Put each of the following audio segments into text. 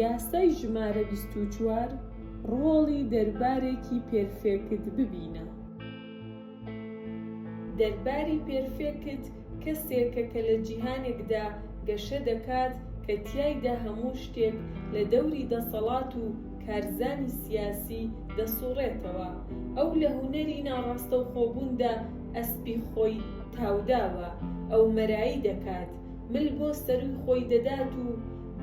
یاسای ژمارە بیست و چوار ڕۆڵی دەربارێکی پێرفێکت ببینە. دەرباری پێرفێکت کەسێکە کە لە جیهانێکدا گەشە دەکات کە تیایدا هەموو شتێک لە دەوری دەسەڵات و کارزانی سیاسی دەسوڕێتەوە. ئەو لە هونەری ناڕاستەوخۆبووندا ئەسپی خۆی تاوداوە ئەو مەرایی دەکات مل بۆ سەرووی خۆی دەدات و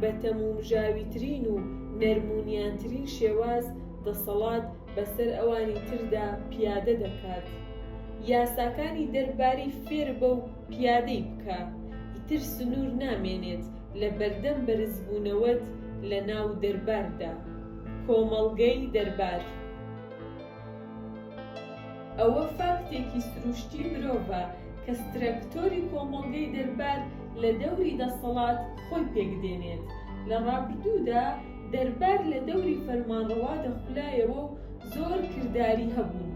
بە تەمومژاویترین و نەرمونیانترین شێواز دەسەڵات بەسەر ئەوانی تردا پیادە دەکات یاساکانی دەرباری فێربە و پیادەی بکە ئیتر سنور نامێنێت لە بەردەم بەرزبونەوەت لە ناو دەرباردا کۆمەڵگەی دەربار. ئەوە فاکتێکی سروشتی مرۆڤە کە سترەکتۆری کۆمەڵگەی دەربار لە دەوری دەسەڵات خۆی پێک دێنێت. لە ڕابردوودا دەربار لە دەوری فەرمانڕەوا دەخولایەوە و زۆر کرداری هەبوون.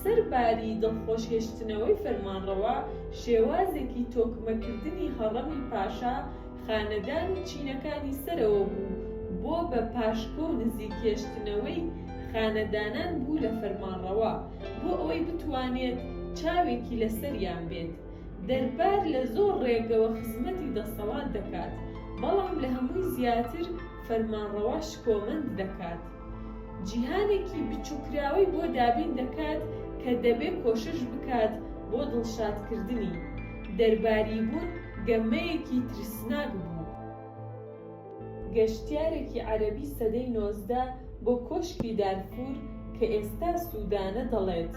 سەرباری دڵخۆش هێشتنەوەی فەرمانڕەوا، شێوازێکی تۆکمەکردنی هەڕەمی پاشا، خانەدان و چینەکانی سەرەوە بوو بۆ بە پاشکۆ و نزیک هێشتنەوەی خانەدانان بوو لە فەرمانڕەوا بۆ ئەوەی بتوانێت چاوێکی لە سەریان بێت. دەربار لە زۆر ڕێگەوە خزمەتی دەسەڵات دەکات، بەڵام لە هەمووی زیاتر فەرمانڕەوا شکۆمەند دەکات. جیهانێکی بچوککراوەی بۆ دابین دەکات کە دەبێ کۆشش بکات بۆ دڵشادکردنی. دەرباریبوون گەمەیەکی ترسناک بوو. گەشتیارێکی عەرەبی سەدەی نۆزدە بۆ کۆشکی دارفور کە ئێستا سودانە دەڵێت،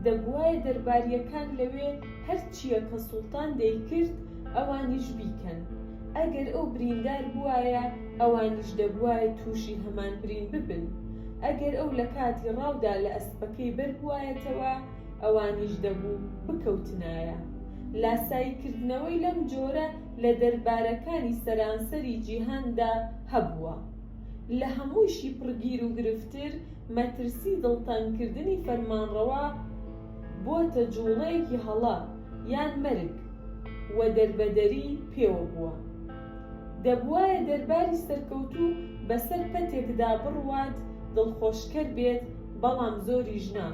دەبوایە دەربارییەکان لەوێ هەرچییە کە سوڵتان دەیکرد ئەوانیش بیکەن. ئەگەر ئەو بریندار بووایە ئەوانیش دەبوایە تووشی هەمان برین ببن، ئەگەر ئەو لە کاتی ڕاودا لە ئەسپەکەی بەربوایەتەوە ئەوانیش دەبوو بکەوتنایە. لاسایی کردنەوەی لەم جۆرە لە دەربارەکانی سەرانسەری جیهاندا هەبووە. لە هەموویشی پڕ گیروگرفتر مەترسی دڵتەنگکردنی فەرمانڕەوا، بۆتە جوڵەیەکی هەڵە یان مەرگ و دەربەدەری پێوە بووە. دەبوایە دەرباری سەرکەوتوو بەسەر پەتێکدا بڕوات دڵخۆشکەر بێت بەڵام زۆریش نا،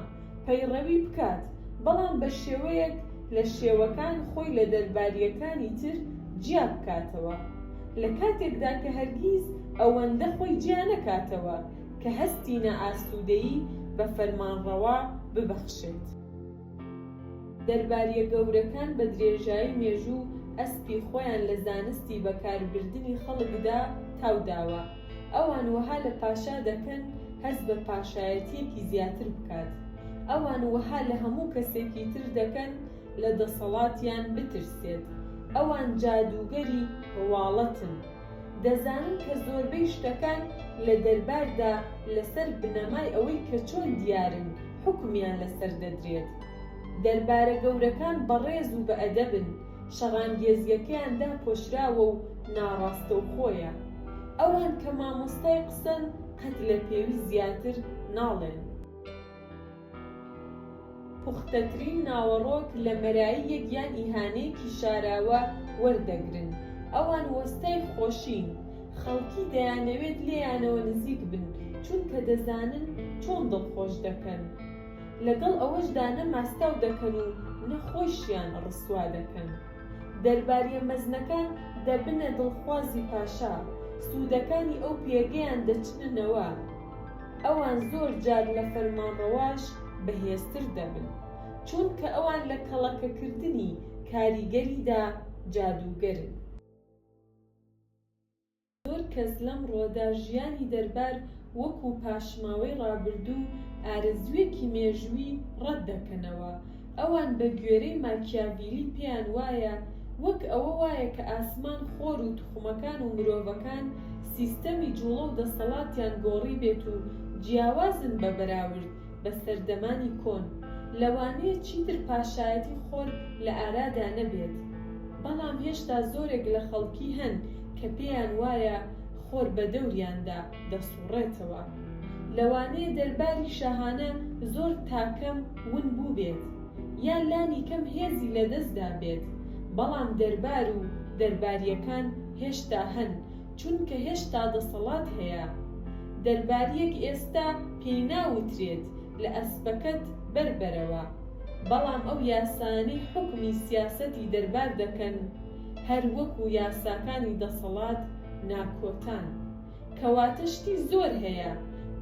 پەیڕەوی بکات بەڵام بە شێوەیەک لە شێوەکان خۆی لە دەربارییەکانی تر جیا بکاتەوە لە کاتێکدا کە هەرگیز ئەوەندە خۆی جیا نەکاتەوە کە هەستی نائاسوودەیی بە فەرمانڕەوا ببەخشێت. دەربارییە گەورەکان بە درێژایی مێژوو ئەسپی خۆیان لە زانستی بەکاربردنی خەڵکدا تاو داوە. ئەوان وەها لە پاشا دەکەن هەست بە پاشایەتییەکی زیاتر بکات. ئەوان وەها لە هەموو کەسێکی تر دەکەن لە دەسەڵاتیان بترسێت. ئەوان جادووگەری ڕواڵەتن. دەزانن کە زۆربەی شتەکان لە دەرباردا لەسەر بنەمای ئەوەی کە چۆن دیارن حوکمیان لەسەر دەدرێت. دەربارە گەورەکان بەڕێز و بەئەدەبن، شەڕانگێزییەکەیان داپۆشراوە و ناڕاستەوخۆیە. ئەوان کە مامۆستای قسەن قەت لە پێویست زیاتر ناڵێن. پوختەترین ناوەڕۆک لە مەراییەک یان ئیهانەیەکی شاراوە وەردەگرن، ئەوان وەستای خۆشین، خەڵکی دەیانەوێت لێیانەوە نزیک بن، چونکە دەزانن چۆن دڵخۆش دەکەن، لەگەڵ ئەوەشدا نە ماستاو دەکەن و نە خۆیشیان ڕسوا دەکەن. دەرباریە مەزنەکان دەبنە دڵخوازی پاشا، سوودەکانی ئەو پێگەیان دەچننەوە، ئەوان زۆر جار لە فەرمانڕەواش بەهێزتر دەبن، چونکە ئەوان لە کەڵەکەکردنی کاریگەریدا جادووگەرن. زۆر کەس لەمڕۆدا ژیانی دەربار وەکو پاشماوەی ڕابردوو و ئارەزوویەکی مێژووی ڕەتدەکەنەوە، ئەوان بە گوێرەی ماکیاڤیلی پێیان وایە وەک ئەوە وایە کە ئاسمان خۆر و توخمەکان و مرۆڤەکان سیستەمی جوڵە و دەستەڵاتیان گۆڕیبێت و جیاوازن بە بەراورد بە سەردەمانی کۆن لەوانەیە چیتر پاشایەتی خۆر لە ئارادا نەبێت بەڵام هێشتا زۆرێک لە خەڵکی هەن کە پێیان وایە خۆر بە دەوریاندا دەسوڕێتەوە. لەوانەیە دەرباری شاهانە زۆر تاکەم ون بووبێت، یا لانی کەم هێزی لەدەست دابێت، بەڵام دەربار و دەربارییەکان هێشتا هەن، چونکە هێشتا دەسەڵات هەیە. دەربارییەک ئێستا پێی ناوترێت لە ئەسپەکەت بەر بەرەوە، بەڵام ئەو یاسایانەی حوکمی سیاسەتی دەربار دەکەن، هەر وەکو یاساکانی دەسەڵات ناکۆتان. کەواتە شتی زۆر هەیە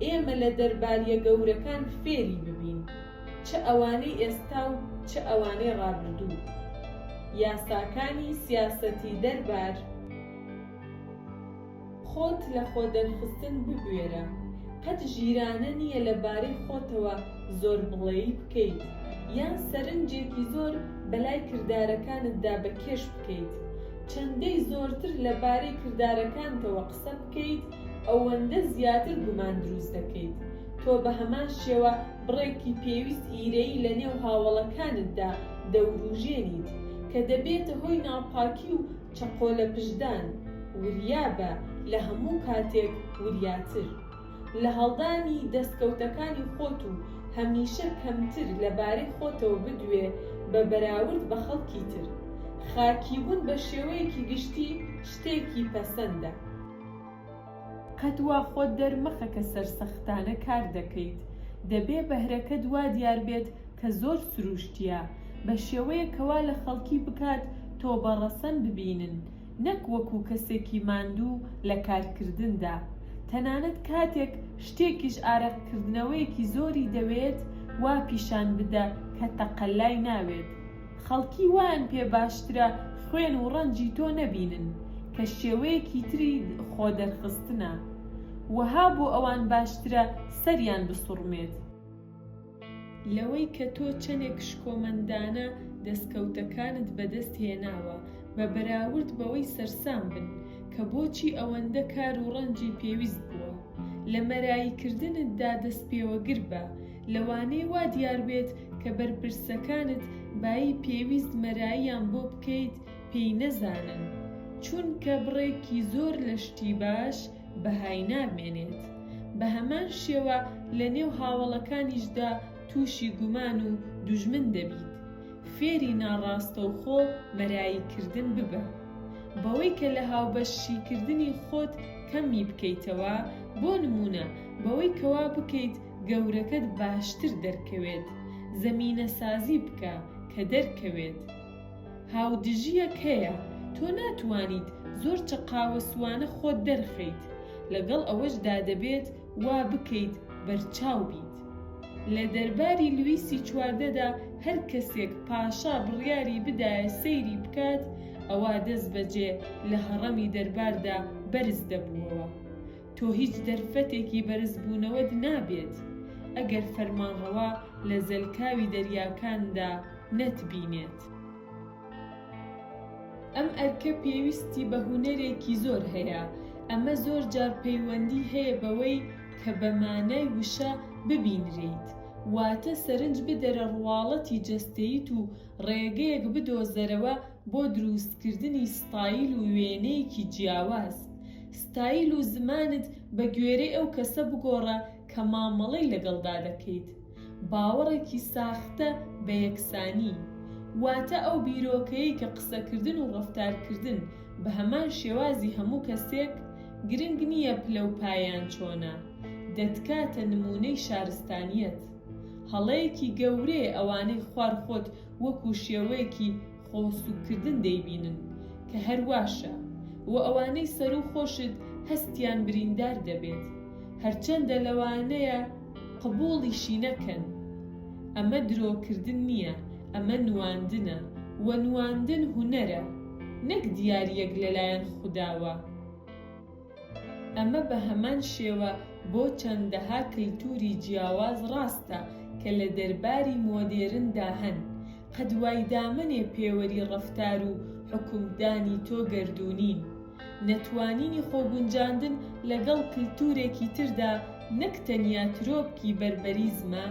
ئێمە لە دەرباریە گەورەکان فێری ببین چ ئەوانەی ئێستا و چ ئەوانەی ڕابردوو یاساکانی سیاسەتی دەربار خۆت لە خۆدەرخستن ببوێرە قەت ژیرانە نیە لە بارەی خۆتەوە زۆر بڵێی بکەیت یان سەرنجێکی زۆر بەلای کردارەکانتدا بە کێش بکەیت چەندەی زۆرتر لە بارەی کردارەکانتەوە قسە بکەیت ئەوەندە زیاتر گومان دروست دەکەیت تۆ بە هەمان شێوە بڕێکی پێویست ئیرەیی لە نێو هاوەڵەکانتدا دەوروژێنیت کە دەبێتە هۆی ناپاکی و چەقۆ لە پشتدان وریابە لە هەموو کاتێک وریاتر. لە هەڵدانی دەستکەوتەکانی خۆت و هەمیشە کەمتر لە بارەی خۆتەوە بدوێ بە بەراورد بە خەڵکی تر. خاکیبوون بە شێوەیەکی گشتی شتێکی پەسەندە. قەت وا خۆت دەرمەخە کە سەرسەختانە کار دەکەیت. دەبێ بەهرەکەت وا دیار بێت کە زۆر سرووشتییە، بە شێوەیەک کە وا لە خەڵکی بکات تۆ بە ڕەسەن ببینن، نەک وەکو کەسێکی ماندوو لە کارکردندا، تەنانەت کاتێک شتێکیش ئارەق کردنەوەیەکی زۆری دەوێت وا پیشان بدە کە تەقەلای ناوێت، خەڵکی وایان پێ باشترە خوێن و ڕەنجی تۆ نەبینن کە شێوەیەکی تری خۆ دەرخستنە، وەها بۆ ئەوان باشترە سەریان بسوڕمێت. لەوەی کە تۆ چەندێک شکۆمەندانە دەستکەوتەکانت بەدەست هێناوە، بە بەراورد بەوەی سەرسام بن کە بۆچی ئەوەندە کار و ڕەنجی پێویست بووە. لە مەراییکردنتدا دەستپێوەگر بە، لەوانەیە وا دیار بێت کە بەرپرسەکانت بایی پێویست مەراییان بۆ بکەیت پێی نەزانن، چونکە بڕێکی زۆر لە شتی باش، بەهای نامێنێت، بە هەمان شێوە لە نێو هاوەڵەکانیشدا تووشی گومان و دوژمن دەبیت، فێری ناڕاستەوخۆ مەرایی کردن ببە، بەوەی کە لە هاوبەش شیکردنی خۆت کەم ی بکەیتەوە، بۆ نموونە بەوەی کەوا بکەیت گەورەکەت باشتر دەرکەوێت، زەمینەسازی بکە کە دەرکەوێت. هاودژیەک هەیە تۆ ناتوانیت زۆر چەقاوەسوانە خۆت دەرخەیت لەگەڵ ئەوەشدا دەبێت وا بکەیت بەرچاو بیت لە دەرباری لویسی چواردەدا هەر کەسێک پاشا بڕیاری بدایە سەیری بکات ئەوا دەست بەجێ لە هەڕەمی دەرباردا بەرز دەبووەوە تۆ هیچ دەرفەتێکی بەرزبوونەوەت نابێت ئەگەر فەرمانڕەوا لە زەلکاوی دەریاکاندا نەتبینێت. ئەم ئەرکە پێویستی بە هونەرێکی زۆر هەیە، ئەمە زۆر جار پەیوەندی هەیە بەوەی کە بە مانای وشە ببینرێیت، واتە سەرنج بدەرە ڕواڵەتی جەستەییت و ڕێگەیەک بدۆزەرەوە بۆ درووستکردنی ستایل و وێنەیەکی جیاواز ستایل و زمانت بە گوێرەی ئەو کەسە بگۆڕە کە مامەڵەی لەگەڵدا دەکەیت. باوەڕێکی ساختە بە یەکسانی، واتە ئەو بیرۆکەیەی کە قسەکردن و ڕەفتارکردن بە هەمان شێوازی هەموو کەسێک، گرنگ نییە پلە و پایەیان چۆنە، دەتکاتە نموونەی شارستانییەت. هەڵەیەکی گەورەیە ئەوانەی خوار خۆت وەکوو شێوەیەکی خۆ سوککردن دەیبینن کە هەر واشە و ئەوانەی سەروو خۆشت هەستیان بریندار دەبێت هەرچەندە لەوانەیە قبوڵیشی نەکەن ئەمە درۆ کردن نییە ئەمە نواندنە و نواندن هونەرە نەک دیاریەک لەلایەن خوداوە. ئەمە بە هەمان شێوە بۆ چەندەها کەلتووری جیاواز ڕاستە کە لە دەرباری مۆدێرندا هەن. قەد وای دامەنێ پێوەری ڕەفتار و حوکمدانی تۆ گەردوونین. نەتوانینی خۆگونجاندن لەگەڵ کلتوورێکی تردا نەک تەنیا ترۆپکی بەربەریزمە،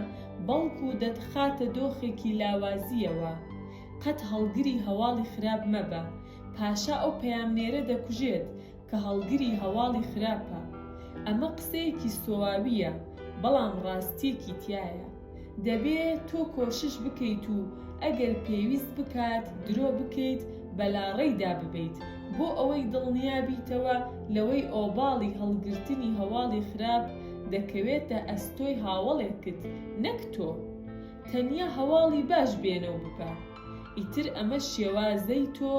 بەڵکوو دەتخاتە دۆخێکی لاوازییەوە. قەت هەڵگری هەواڵی خراپ مەبە. پاشا ئەو پەیامنێرە دەکوژێت. کە هەڵگری هەواڵی خراپە، ئەمە قسەیەکی سۆاوییە بەڵام ڕاستیەکی تیایە، دەبێ تۆ کۆشش بکەیت و ئەگەر پێویست بکات درۆ بکەیت بەلاڕێیدا ببەیت بۆ ئەوەی دڵنیا بیتەوە لەوەی ئۆباڵی هەڵگرتنی هەواڵی خراپ دەکەوێتە ئەستۆی هاوەڵێکت نەک تۆ تەنیا هەواڵی باش بێنەو ببە. ئیتر ئەمە شێوازەی تۆ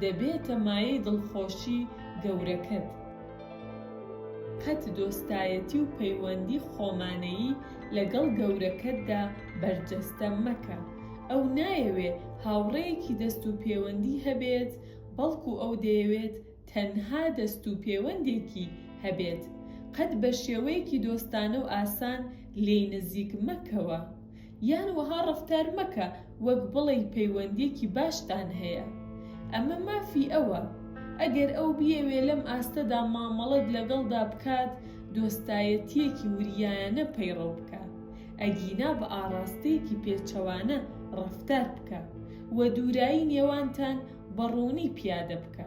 دەبێتە مایەی دڵخۆشی گەورەکەت. قەت دۆستایەتی و پەیوەندی خۆمانەیی لەگەڵ گەورەکەتدا بەرجەستە مەکە. ئەو نایەوێ هاوڕێیەکی دەست و پێوەندی هەبێت، بەڵکو ئەو دەیەوێت تەنها دەست و پێوەندێکی هەبێت. قەت بە شێوەیەکی دۆستانە و ئاسان لێی نزیک مەکەوە. یان وەها ڕەفتار مەکە وەک بڵێی پەیوەندیەکی باشتان هەیە. ئەمە مافی ئەوە. ئەگەر ئەو بیەوێ لەم ئاستەدا مامەڵەت لەگەڵدا بکات، دۆستایەتیەکی وریایانە پەیڕەو بکە. ئەگینا بە ئاڕاستەیەکی پێچەوانە ڕەفتار بکە و دوورایی نێوانتان بە ڕوونی پیادە بکە.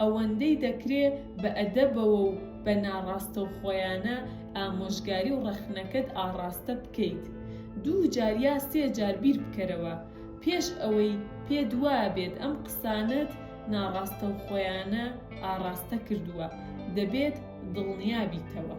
ئەوەندەی دەکرێ بە ئەدەبەوە و بە ناڕاستەوخۆیانە ئامۆژگاری و ڕەخنەکەت ئاڕاستە بکەیت، دوو جار یا سێ جار بیر بکەرەوە، پێش ئەوەی پێت وابێت ئەم قسانەت ناڕاستەوخۆیانە ئاڕاستە کردووە، دەبێت دڵنیا بیتەوە.